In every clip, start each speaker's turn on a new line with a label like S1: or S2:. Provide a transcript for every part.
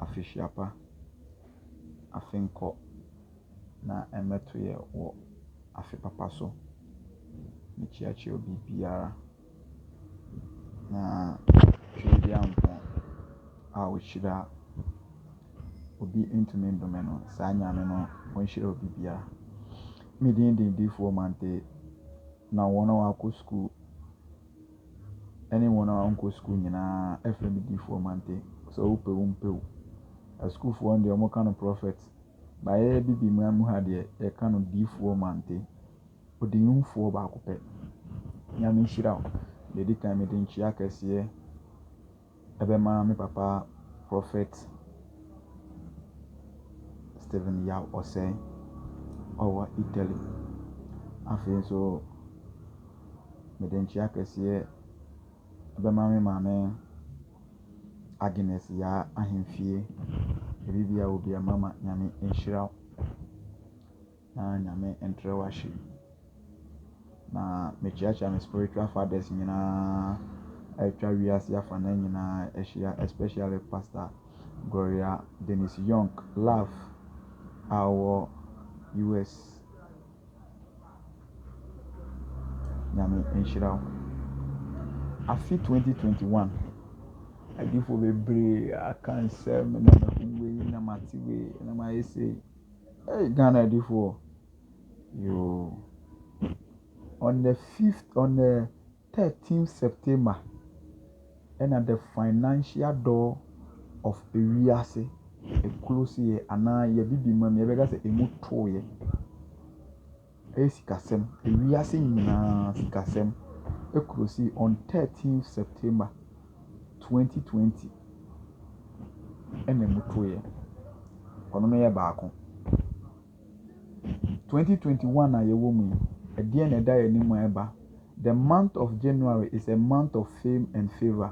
S1: afehyia pa, afe nkɔ, na mmɛto yɛ wɔ afe papa so. Mekyiakyia obi biara, na Twere Nyankopɔn a ɔhyira obi ntumi nnome no, saa Nyame no ɔnhyira obi biara. Me din de Difoɔ Mantey, na wɔn a wɔakɔ sukuu ɛne wɔn a wɔnkɔ sukuu nyinaa ɛfrɛ no difoɔ mante sɛ wopɛ wo mpɛ wo asukuufoɔ no deɛ wɔn ka no prɔfɛt ba yɛ bibi man mu ha deɛ yɛka no difoɔ mante ɔdinimfoɔ baako pɛ nyame nhyira wo deɛ ɛdi kan mede nkyia kɛseɛ Ɛbɛma me papa Prophet Stephen Yaw Osei, ɔwɔ Italy. Afei nso, mede nkyea kɛseɛ bɛma me maame Agnes Yaa Ahemfie. Baabiara a wɔ biara mama Nyame nhyira wo. Na Nyame ntrɛ wo ahye. Na mekyeakyea me spiritual fathers nyinaa a atwa wiase afanan nyinaa ahyia especially Pastor Gloria Dennis Young Love a ɔwɔ US. Nyame nhyira wo. Afe 2021 adiifoɔ bebree aka nsɛm na mahu wei na mate wei na mayɛ sei. Ei Ghana adifoɔ yoo on the fifth on the thirteen September ɛna the financial door of ewiase ɛklosieɛ anaa yɛde bi ma mu yɛbɛka sɛ ɛmu tooeɛ. Ɛyɛ sikasɛm, ewiase nyinaa sikasɛm ɛkɔsi on thirteen September twenty twenty ɛna ɔmo to yɛ. Ɔno no yɛ baako. Twenty twenty one a yɛwɔ mu yi ɛdeɛn na ɛda yɛn anim a ɛba? The month of January is a month of fame and favour.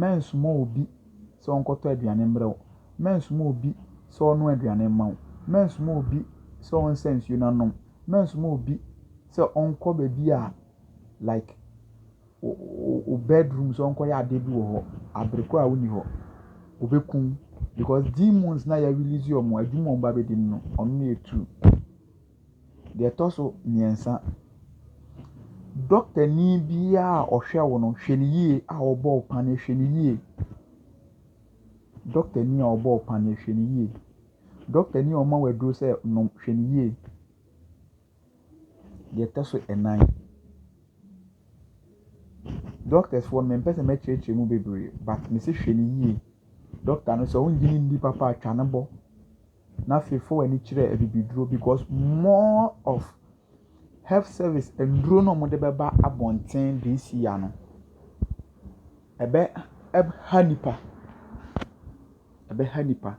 S1: Mɛnsoma obi sɛ ɔnkɔtɔ aduane mmrɛ wo. Mɛnsoma obi sɛ ɔnnoa aduane mma wo. Mɛnsoma obi sɛ ɔnsa nsuo na nom. Mɛnsoma obi sɛ ɔnkɔ baabi a like wo bedroom sɛ ɔnkɔyɛ adeɛ bi wɔ hɔ abere korɔ a wonni hɔ. Ɔbɛku wo because demons no a yɛ release wɔn a adwuma a wɔba abɛdi no no, ɔno na ɛyɛ true. Deɛ ɛtɔ so mmiɛnsa, dɔktani biara a ɔhwɛ wo no, hwɛ no yie a ɔbɔ wo paneɛ hwɛ no yie. Dɔktani a ɔbɔ wo paneɛ hwɛ no yie. Dɔktani a ɔma wo aduro sɛ nom hwɛ no yie. Deɛ ɛtɔ so nnan, dɔktɛfoɔ no mempɛ sɛ mɛkyerɛkyerɛ mu bebree but mese hwɛ no yie. Dɔkta no sɛ wonnye no nni papa a, twa no bɔ. na afei fa w'ani kyerɛ abibiduro because more of health service nnuro no a wɔde bɛba abɔnten this year no, ɛbɛ ɛha nnipa, ɛbɛha nnipa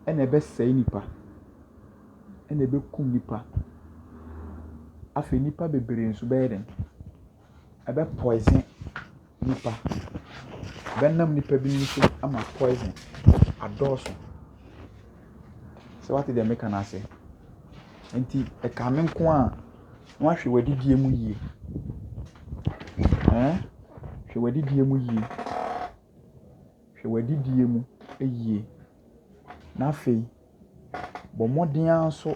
S1: ɛna ɛbɛsɛe nnipa, ɛna ɛbɛkum nnipa. Afei nnipa bebree nso bɛyɛ dɛn? ɛbɛ poison nipa. Ɛbɛnam nipa binom so ama poison adɔɔso. So woate deɛ meka no ase? Nti ɛka me nko a, na woahwɛ w'adidie mu yie. Ɛɛn, hwɛ w'adidie mu yie. Hwɛ w'adidie mu yie. Na afei. Bɔ mmɔden ara nso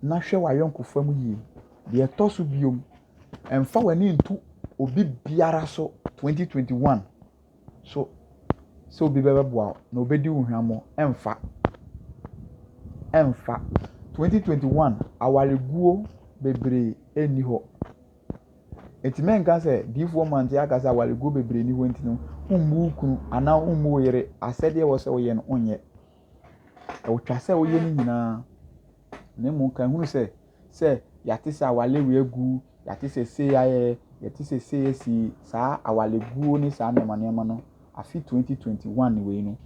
S1: na hwɛ w'ayɔnkofa mu yie. Deɛ ɛtɔ so bio, mfa w'ani nto obi biara so twenty twenty one so sɛ obi bɛboa wo na ɔbɛdi wo hwammɔ, ɛmfa, ɛmfa. Twenty twenty one, awareguo bebree nni hɔ. Enti mɛnka sɛ diyifoɔ mmante aka sɛ awareguo bebree ni hɔ nti no wommu wo kunu anaa wommu wo yere asɛdeɛ ɛwɔ sɛ woyɛ no wonyɛ. Ɛwotwa sɛ woyɛ ne nyinaa na mmom ka hunu sɛ sɛ yɛate sɛ awale wei agu yɛate sɛ sei ayɛ yɛte sɛ sei asi saa awaleguo ne saa nneɛma nneɛma no afe 2021 wei no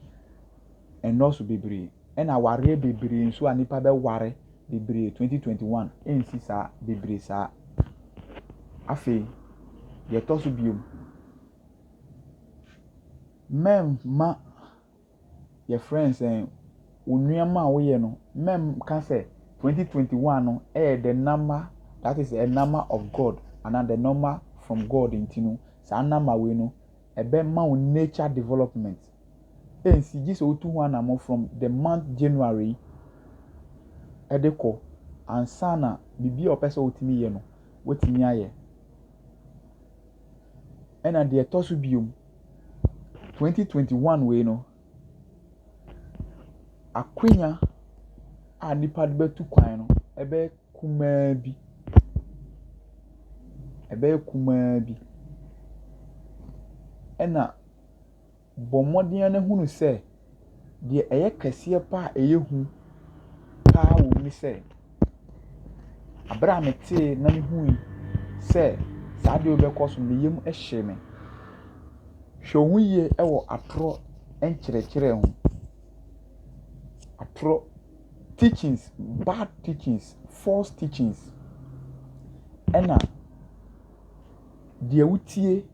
S1: ɛnnɔɔso bebree. Ɛna awareɛ bebree nso a nipa bɛ ware bebree twenty twenty one ɛnsi saa bebree saa afei deɛ ɛtɔ so biom mɛmma yɛ friends sɛn onuama a woyɛ no mɛmka sɛ twenty twenty one no ɛyɛ the number that is a number of God ana the number from God nti no saa number wei no ɛbɛma wo nature development. ɛnsi gye sɛ wotu ho anamɔ from the month January ɛde kɔ ansa na biribi a ɔpɛ sɛ wotumi yɛ no watumi ayɛ ɛna deɛ ɛtɔ so biom 2021 wei no akwanya a nipa de bɛtu kwan no ɛbɛyɛ kumaa bi ɛbɛyɛ kumaa bi ɛna Bɔ mmɔden ara na hunu sɛ deɛ ɛyɛ kɛseɛ pa ara a ɛyɛ hu pa ara wɔ mu ne sɛ, berɛ a metee na mehui sɛ saa adeɛ yi rebɛkɔ so no, me yam hyee me. Hwɛ wo ho yie wɔ atorɔ nkyerɛkyerɛ ho. Atorɔ teachings, bad teachings, false teachings, ɛnna deɛ wotie.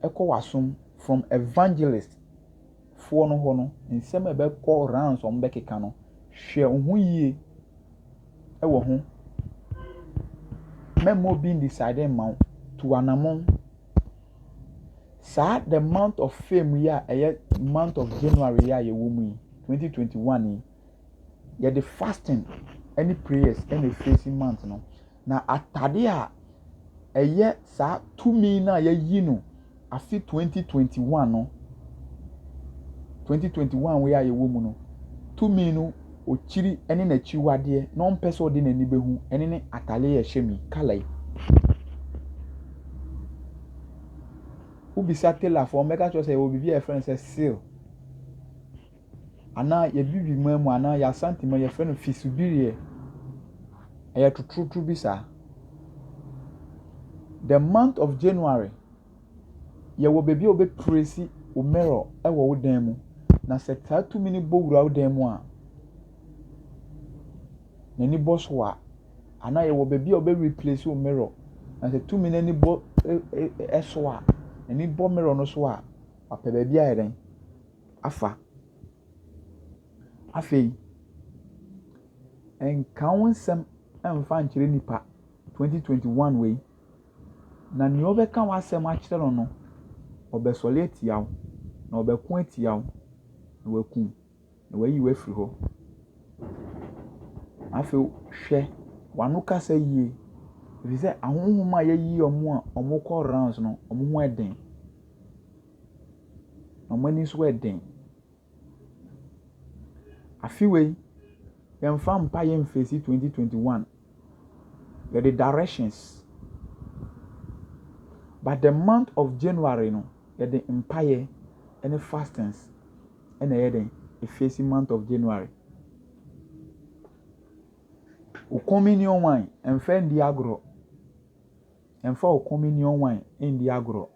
S1: ɛkɔ w'asom from evangelist foɔ no hɔ no nsɛm a ɛbɛkɔ rounds wɔn bɛkeka no hwɛ wo ho yie ɛwɔ ho mɛmma obi n decide mma wo tu anamɔn saa the month of fame yi a ɛyɛ month of January yi a yɛwɔ mu yi 2021 yi yɛde fasting ɛne prayers ɛna efeesi month no Na atade a ɛyɛ saa tumi no a yɛayi no afe 2021 no, 2021 wei a yɛwɔ mu no, tumi no okyiri ne n'akyiwadeɛ na ɔmpɛ sɛ ɔde n'ani bɛhu ɛne ne atare a ɛhyɛ mi kala yi. Wobisa tailorfoɔ wɔbɛka kyerɛ sɛ yɛwɔ biribi a yɛfrɛ no sɛ seal. anaa Abibiman mu anaa yɛn Asante mu a yɛfrɛ no fisubirie. Ɛyɛ totorotoro bi saa. The month of January, yɛwɔ baabi a wobɛprɛsi wo mirror wɔ wo dan mu, na sɛ saa tumi no bɔ wura wo dan mu a, n'ani bɔ so a, anaa yɛwɔ baabi a wobɛreplesi wo mirror, na sɛ tumi no ani bɔ ɛ ɛ ɛ so a, n'ani bɔ mirror no so a, wapɛ baabi ayɛ dɛn? afa. Afei, nka wo nsɛm mfa nkyerɛ nipa 2021 wei, na nea ɔbɛka w'asɛm akyerɛ no no, ɔbɛsɔre atia wo, na ɔbɛko atia wo, na wakum, na wayi wo afiri hɔ. Afei, hwɛ w'ano kasa yie, ɛfiri sɛ ahonhom a yɛayi wɔn a wɔkɔ rounds no, wɔn ho yɛ den. Wɔn ani nso yɛ den. Afe wei, yɛmfa mpaeɛ mfeesi twenty twenty one. Yɛde directions. But the month of January no, yɛde mpaeɛ ne fastings na ɛyɛ den efeesi month of January. Wo communion wine, mfa ndi agorɔ. Ɛmfa wo Komunyon wine nni agorɔ.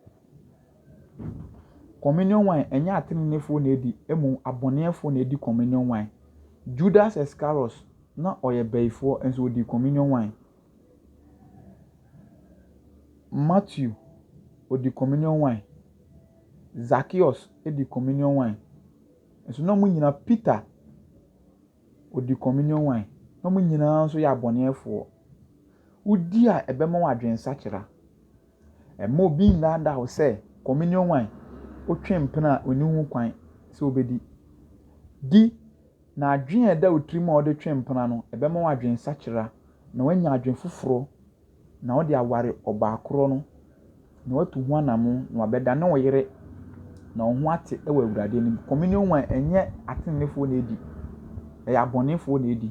S1: Komunyon wine, ɛnyɛ ateneneefoɔ na ɛdi, mmom abɔneɛfoɔ na ɛdi Komunyon wine. Judas Iskariot, na ɔyɛ bayifoɔ, nso ɔdii Komunyon wine. Matthew, ɔdi Komunyon wine. Zacchaeus di Komunyon wine. Nso na wɔn nyinaa, Peter, ɔdi communion wine, na wɔn nyinaa nso yɛ abɔneɛfoɔ. Wodi a ɛbɛma wo adwensakyera. Mma obi nnaadaa wo sɛ communion wine wotwe mpena a ɔnni ho kwan sɛ wobɛdi. Di, na adwene a ɛda wo tirim a wode twe mpena no ɛbɛma wo adwensakyera na woanya adwene foforɔ na ɔde aware ɔbaa korɔ no, na watu ho anammɔn, na wabɛdane wo yere, na wo ho ate wɔ Awurade anim. Communion wine, ɛnyɛ ateneneefoɔ na ɛdi, ɛyɛ abɔnefoɔ na ɛdi.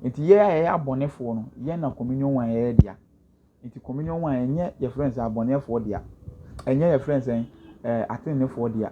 S1: Nti yɛn a yɛyɛ abɔnefoɔ no, yɛn na communion wine yɛ yɛn dea. Nti communion wine, ɛnyɛ yɛfrɛ no sɛ abɔneɛfoɔ dea, ɛnyɛ yɛfrɛ no sɛ ɛɛ ateneneefoɔ dea.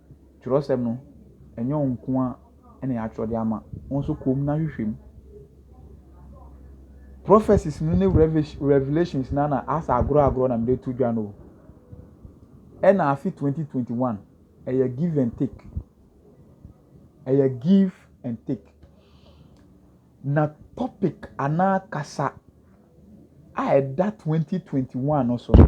S1: kyerɛwsɛm no, ɛnyɛ wo nko ara na yɛatwerɛ de ama. Wo nso kɔ mu na hwehwɛ mu. Prophecies no ne revelations no na asɛ agorɔ agorɔ na mede to dwa no o. Ɛna afe 2021, ɛyɛ give and take. Ɛyɛ give and take. Na topic anaa kasa a ɛda 2021 no so no,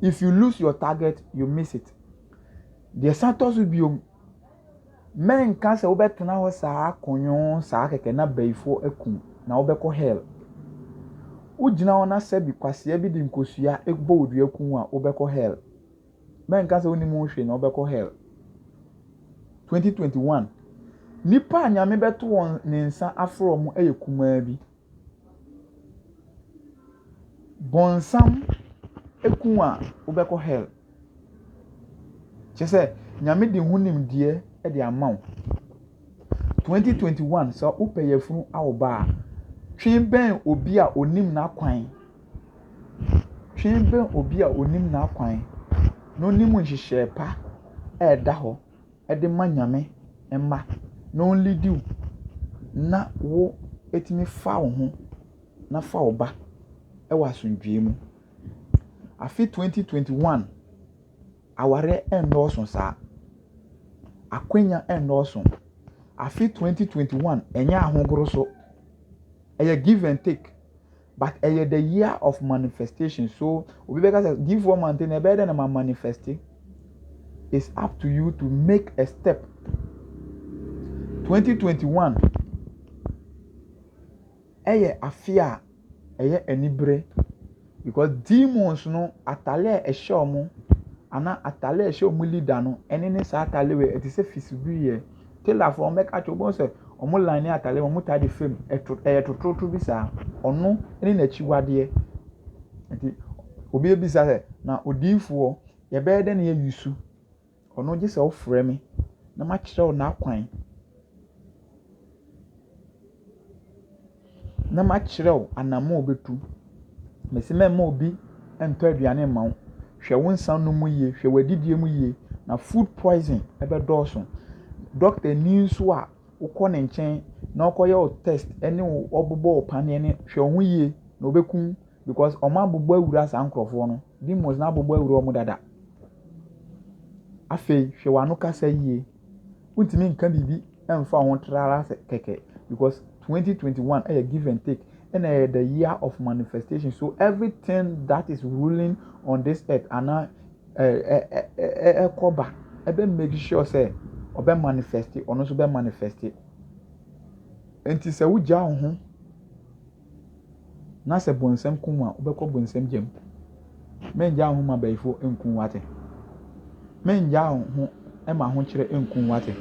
S1: If you lose your target, you miss it. Deɛ san tɔ so bio, mɛnka sɛ wobɛtena hɔ saa kɔnyɔn saa kɛkɛ na bayifoɔ akum na wobɛkɔ hell. Wogyina hɔ na sɛbi kwasea bi de nkosua bɔ wo dua kum a wobɛkɔ hell. Mɛnka sɛ wonim ho hwee na wobɛkɔ hell. 2021 Nnipa a Nyame bɛto wɔn ne nsa afrɛ wɔn yɛ kumaa bi. Bɔnsam ku wo a, wobɛkɔ hell. Kyerɛ sɛ, Nyame de ho nimdeɛ de ama wo. Twenty twenty one, sɛ wopɛ yafunu a wo ba a, twe bɛn obi a onim n'akwan. Twe bɛn obi a onim n'akwan na onim nhyehyɛe pa a ɛda hɔ. de ma Nyame mma na ɔnlidi wo na wo atumi fa wo ho na fa wo ba wɔ asomdwoeɛ mu. Afe 2021, awareɛ nnɔɔso saa. Akwanya nnɔɔso. Afe 2021, ɛnyɛ ahogoro so. Ɛyɛ give and take. but ɛyɛ the year of manifestation so obi bɛka sɛ diifoɔ mante na ɛbɛyɛ dɛ na ma manifeste it's up to you to make a step 2021 ɛyɛ afe a ɛyɛ anibere because demons no atale a ɛhyɛ wɔn ana atale a ɛhyɛ wɔn leader no ɛne ne saa atale wei ɛte sɛ fisibuiɛ. tailor fo wɔn bɛka kyerɛ wɔn sɛ wɔn line atare wɔn taa de fam ɛto ɛyɛ totorotoro bi saa ɔno ne n'akyiwadeɛ nti obi ebisa sɛ na odiifoɔ yɛbɛyɛ dɛ na yɛ yusu ɔno gye sɛ ɔfrɛ me na ma kyerɛ wo n'akwan. na makyerɛ wo anammɔn a wubetu. Mese mɛmma obi ntɔ aduane mma wo. Hwɛ wo nsa nom mu yie, hwɛ w'adidie mu yie, na food poison bɛdɔɔso. Dɔktani nso a wokɔ ne nkyɛn na ɔkɔyɛ wo test ne wo ɔbobɔ wo paneɛ no, hwɛ wo ho yie, na ɔbɛkum wo because wɔabobɔ awura saa nkurɔfoɔ no. Demons no abobɔ awura wɔn dada. Afei, hwɛ w'ano kasa yie. wontumi nka biribi mfa ho tra ara sɛ kɛkɛ because twenty twenty one ɛyɛ give and take ɛna ɛyɛ the year of manifestation so everything that is ruling on this earth ana ɛɛ ɛɛ ɛɛ ɛkɔba ɛbɛ make sure sɛ ɔbɛ manifest ɔno nso bɛ manifest nti sɛ wogya wo ho na sɛ bɔnsam kum wo a, wobɛkɔ bɔnsam gya mu. Mɛngyaa wo ho ma bayifo nku wo ate. Mɛngyaa wo ho ma ahokyerɛ nku wo ate.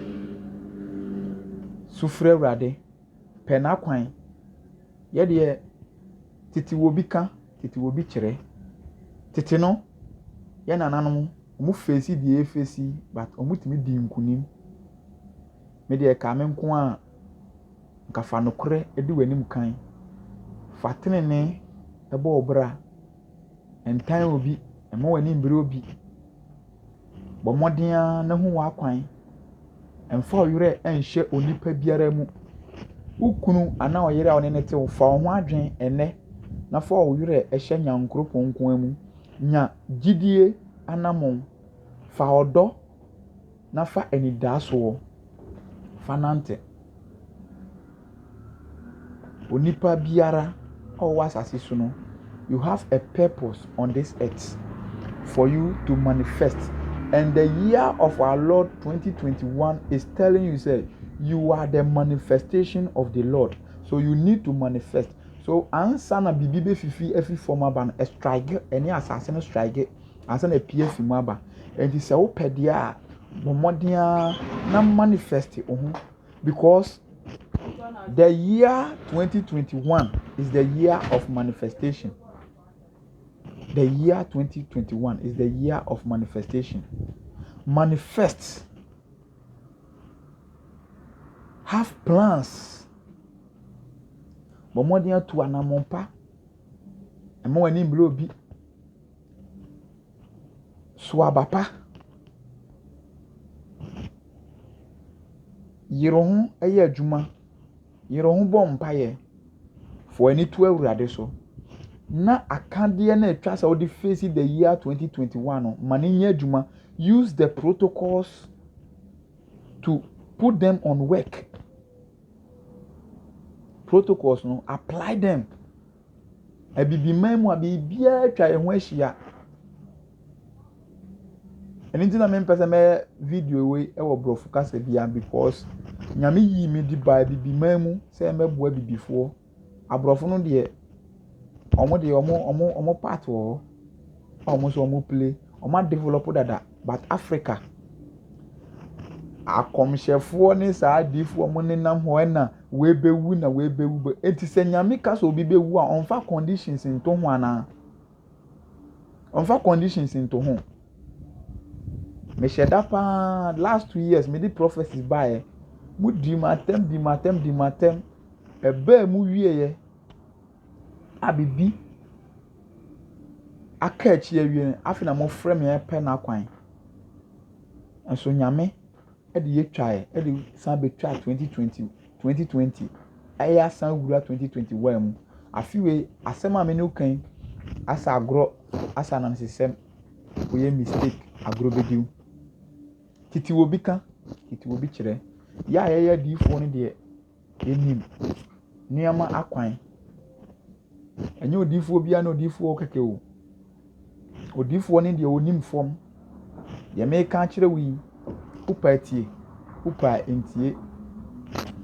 S1: Sufrɛ Awurade, pɛ n'akwan. Yɛdeɛ, tete wɔ bi ka, tete wɔ bi kyerɛ. Tete no, yɛn nananom, wɔn feesi deɛ efeesi, but wɔn tumi di nkunim. Me deɛ ɛkaa me nko a, Anka fa nokorɛ di w'anim kan, fa tenenee bɔ wo bra, ntan obi, mma w'ani mbre obi, bɔ mmɔden ara na hu w'akwan, mfa wo werɛ nhyɛ onipa biara mu. Wo kunu anaa ɔyere a wo ne no te, fa wo ho adwene ɛnnɛ na fa wo werɛ hyɛ Nyankoropɔn nko ara mu. Nya gyidie anamon, fa ɔdɔ. na fa anidasoɔ fa nante. Onipa biara a ɔwɔ asase so no, you have a purpose on this earth for you to manifest. And the year of our Lord 2021 is telling you, say, you are the manifestation of the Lord. So you need to manifest. So ansa na biribi bɛfifi afi fam aba no, strike ɛne asase no strike Ansa na apue afi mu aba. Enti sɛ wopɛ deɛ a, bɔ mmɔden ara na manifest wo ho because the year 2021 is the year of manifestation. The year 2021 is the year of manifestation. Manifest. Have plans. Bɔ mmɔden atu anammɔn pa. Ɛma w'ani mmere obi. So aba pa? Yere wo ho yɛ adwuma. Yere wo ho bɔ mpaeɛ. Fa w'ani to Awurade so na akadeɛ no a ɛtwa sɛ wode face the year 2021 no, ma no nyɛ adwuma. Use the protocols to put them on work. Protocols no, apply them. Abibiman mu a biribiara atwa yɛn ho ahyia. Ɛno nti na mempɛ sɛ mɛyɛ video wei wɔ borɔfo kasa bia because Nyame yii me de baa abibiman mu sɛ mɛboa abibifoɔ. Aborɔfo no deɛ, wɔn deɛ wɔn part wɔ hɔ a wɔn nso wɔplay. Wɔade develop dada. but Africa akɔmhyɛfoɔ ne saa adiyifoɔ wɔn nenam hɔ ɛna wɔbɛwu na wɔbɛwu bɛ eti sɛ nyame ka sɛ obi bɛwu a ɔnfa conditions nto ho anaa ɔnfa conditions nto ho mehyɛ da paa last two years me de prophecy baeɛ mo di mu atɛm di mu atɛm di mu atɛm ɛbɛɛ mu wieɛ. a biribi aka akyire awie no, afei na wɔfrɛ me repɛ n'akwan. Nanso Nyame de yɛ twaeɛ de san bɛtwaa twenty twenty twenty twenty ɛyɛ asan wura twenty twenty one mu. Afe wei asɛm a me ne wo reka yi asɛ agorɔ asɛ anansesɛm woyɛ mistake agorɔ bɛdi wo. Tete obi ka tete obi kyerɛ. Yɛ a yɛyɛ adiyifoɔ no deɛ. Nim nneɛma akwan. Ɛnyɛ odiyifoɔ biara ne odiyifoɔ kɛkɛ o. Odiyifoɔ ne deɛ ɔnim fam. Deɛ meka akyerɛ wo yi, wopɛ a tie, wopɛ a ntie.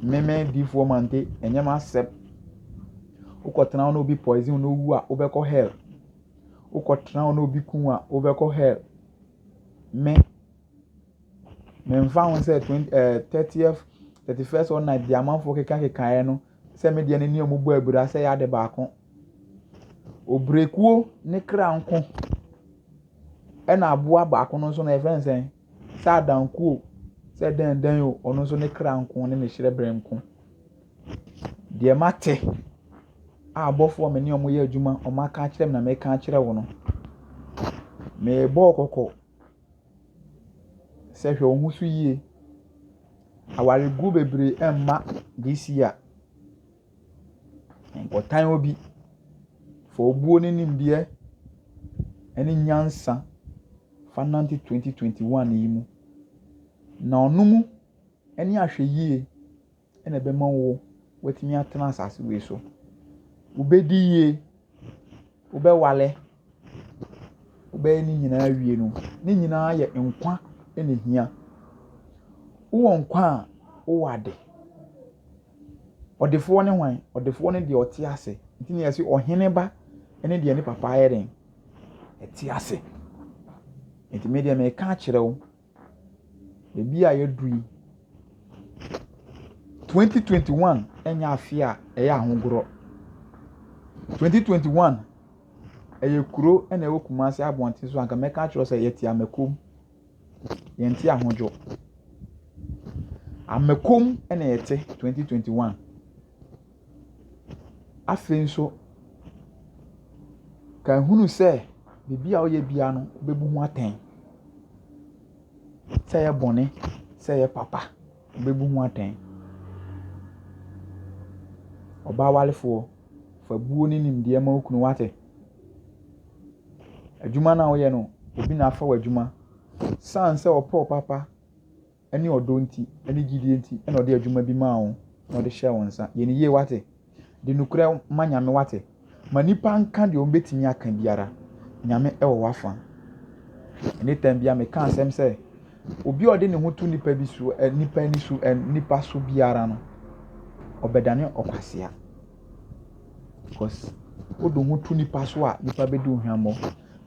S1: Me me diyifoɔ Mante, ɛnyɛ m'asɛm. Wokɔtena hɔ na obi poison wo na wowu a, wobɛkɔ hell. Wokɔtena hɔ na obi kum wo a, wobɛkɔ hell. Me. Memfa ho sɛ twen ɛɛ thirtieth, thirty first or night deɛ amanfoɔ kekakekaeɛ no sɛ me deɛ me ne wɔn bɔɔ abira sɛ ɛyɛ ade baako. Ɔbrɛkuo ne kra nko ɛna aboa baako no nso no yɛfrɛ no sɛn? Sɛ adankuo o, sɛ dɛndɛn o, ɔno nso ne kra nko ne ne hyerɛberɛ nko. Deɛ mate a abɔfoɔ a me ne wɔn yɛ adwuma wɔaka akyerɛ me na meka akyerɛ wo no, mebɔɔ kɔkɔ. Sɛ hwɛ wo ho so yie. Awaregu bebree ɛmma this year. Nkɔtan obi. Fa obuo ne nimdeɛ ɛne nyansa fa nante twenty twenty one yi mu. Na ɔno mu ɛne ahwɛyie. na ɛbɛma wo woatumi atena asase wei so. Wobɛdi yie, wobɛware, wobɛyɛ ne nyinaa awie no, ne nyinaa yɛ nkwa na ɛhia. Wowɔ nkwa a, wowɔ ade. Ɔdefoɔ ne hwan? Ɔdefoɔ ne deɛ ɔte ase. Nti na yɛse ɔhene ba ne deɛ ne papa ayɛ dɛn? Ɛte ase. Nti me deɛ meka akyerɛ wo. Baabi a yɛaduru yi, 2021 nyɛ afe a ɛyɛ ahodoɔ. 2021, ɛyɛ kuro na ɛwɔ Kumasi abɔnten so a nka mɛka akyerɛ wo sɛ yɛte Amɛkom, yɛnte Ahodwo. Amɛkom na yɛte 2021. Afei nso, ka hunu sɛ biribi a woyɛ biara no, wobebu ho atɛn. Sɛ ɛyɛ bɔne, sɛ ɛyɛ papa, wobebu ho atɛn. Ɔbaa warefoɔ, fa buo ne nimdeɛ ma wo kunu, wate? Adwuma no a woyɛ no, obi na afa w'adwuma. San sɛ ɔpɛ wo papa. ne ɔdɔ nti, ne gyidie nti na ɔde adwuma bi maa wo na ɔde hyɛɛ wo nsa. Yɛ no yie, woate? De nokorɛ ma Nyame, woate? Ma nnipa nka deɛ wɔbɛtumi aka biara, Nyame wɔ w'afa. Ɛnne tam biara meka asɛm sɛ, obi a ɔde ne ho to nnipa bi so, nnipa ani so, nnipa so biara no, ɔbɛdane ɔkwasea. Because wode wo ho to nnipa so a, nnipa bɛdi wo hwammɔ.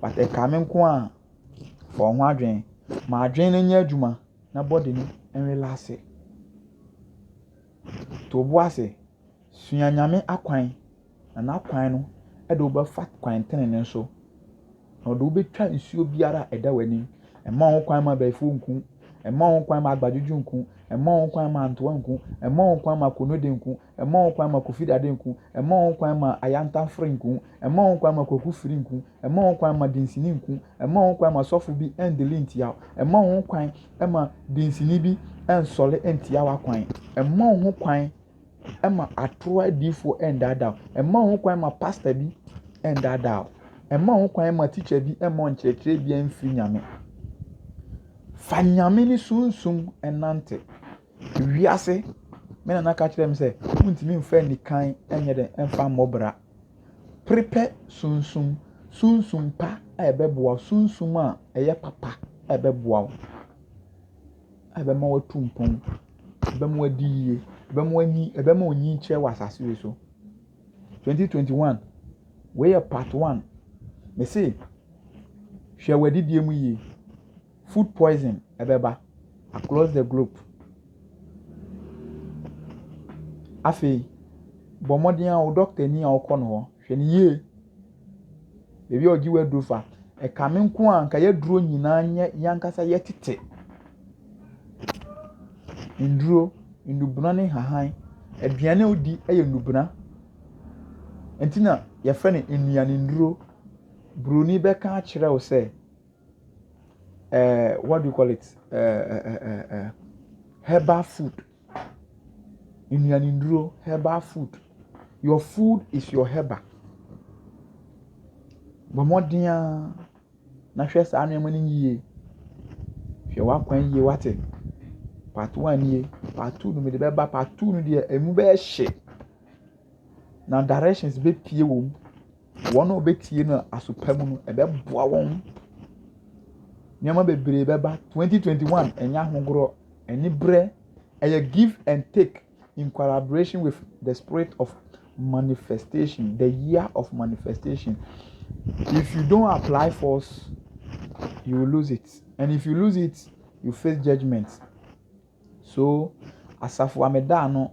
S1: But ɛkaa me nko ara a, Fa wo ho adwene. Ma adwene no nyɛ adwuma na body no nrelaase. To wo bo ase. Sua Nyame akwan, na n'akwan no de wo bɛfa kwan tenenee so, na ɔde wo bɛtwa nsuo biara a ɛda w'anim. Ɛmma wo ho kwan ma abayifoɔ nku, ɛmma wo ho kwan ma agbadwodwo nku, ɛmma wo ho kwan ma antoa nku, ɛmma wo ho kwan ma akonoode nku, Ɛmma ho kwan ma Kofi Dade nko, ɛmma ho kwan ma Ayanta Fre nko, ɛmma ho kwan ma Kwaku Firi nko, ɛmma ho kwan ma Dinsini nko, ɛmma ho kwan ma sɔfo bi ndeli ntia wo, ɛmma ho kwan ma Dinsini bi nsɔle ntia w'akwan, ɛmma ho kwan ma atoro adiifoɔ ndaadaa wo, ɛmma ho kwan ma pasta bi ndaadaa wo, ɛmma ho kwan ma tikya bi mma ɔnkyerɛkyerɛ biara mfiri Nyame. Fa Nyame ne Sunsum nante. Wiase, me nana ka kyerɛɛ me sɛ wontumi mfa anikan nyɛ dɛn mfa mmɔ bra. Prepare sunsum, sunsum pa a ɛbɛboa wo, sunsum a ɛyɛ papa a ɛbɛboa wo, a ɛbɛma woatu mpɔn, ɛbɛma woadi yie, ɛbɛma w'ani, ɛbɛma onyin kyerɛ wɔ asase wei so. 2021, wei yɛ part one. Mese, hwɛ w'adidie mu yie. food poison bɛba across the globe. Afei, bɔ mmɔden ara wo dɔktani a wokɔ no hɔ, hwɛ no yie. Baabi a ɔgye wo aduro fa, ɛkame nko a anka yɛaduro nyinaa nyɛ yɛn ankasa yɛtete. Nnuro, nnubena ne nhahan, aduane a wodi yɛ nnubena. Ɛnti na yɛfrɛ no nnuanennuro. Buroni bɛka akyerɛ wo sɛ. ɛɛ what do you call it ɛɛɛɛɛ herbal food nnuanennuro herbal food your food is your herbal bɔ mmɔden ara na hwɛ saa nneɛma no yie hwɛ w'akwan yie wate part one nie part two no mede bɛba part two no deɛ emu bɛyɛ hye na directions bɛ pie wɔ mu. wɔn a wɔbɛtie no aso pa mu no, ɛbɛboa wɔn. Nneɛma bebree bɛba. Twenty twenty one, ɛnyɛ ahodoɔ. Aniberɛ, ɛyɛ give and take in collaboration with the spirit of manifestation, the year of manifestation. If you don't apply force, you will lose it. And if you lose it, you face judgment. So, asafo ameda ano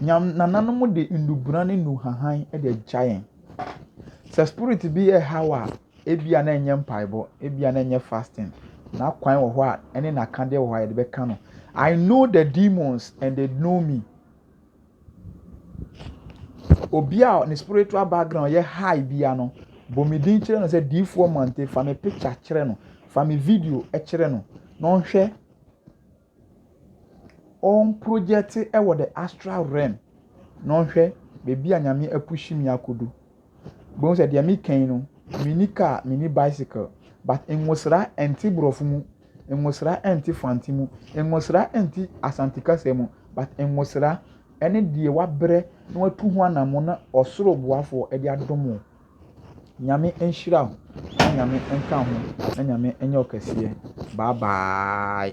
S1: Nyam nananom de nnubona ne nnuhuahan de agya yɛn. Sɛ spirit bi reha wo a, ebia na ɛnyɛ mpaebɔ, ebia na ɛnyɛ fasting. N'akwan wɔ hɔ a ɛne n'akadeɛ wɔ hɔ a yɛde bɛka no. I know the demons and they know me. Obi a ne spiritual background yɛ high bia no, bɔ me din kyerɛ no sɛ diifoɔ mante fa me picture kyerɛ no, fa me video kyerɛ no na ɔnhwɛ ɔmprojɛte wɔ the astral realm na ɔnhwɛ baabi a Nyame apushi me akodu. Bohu sɛ deɛ meka yi no, menni car, menni bicycle, but nwosra ɛnte borɔfo mu, nwosra ɛnte fante mu, nwosra ɛnte Asante kasa mu, but nwosra ɛne deɛ wabrɛ na watu ho anammɔn na ɔsoro boafoɔ de adom wo. Nyame nhyira wo na Nyame nka ho na Nyame nyɛ wo kɛseɛ bye bye.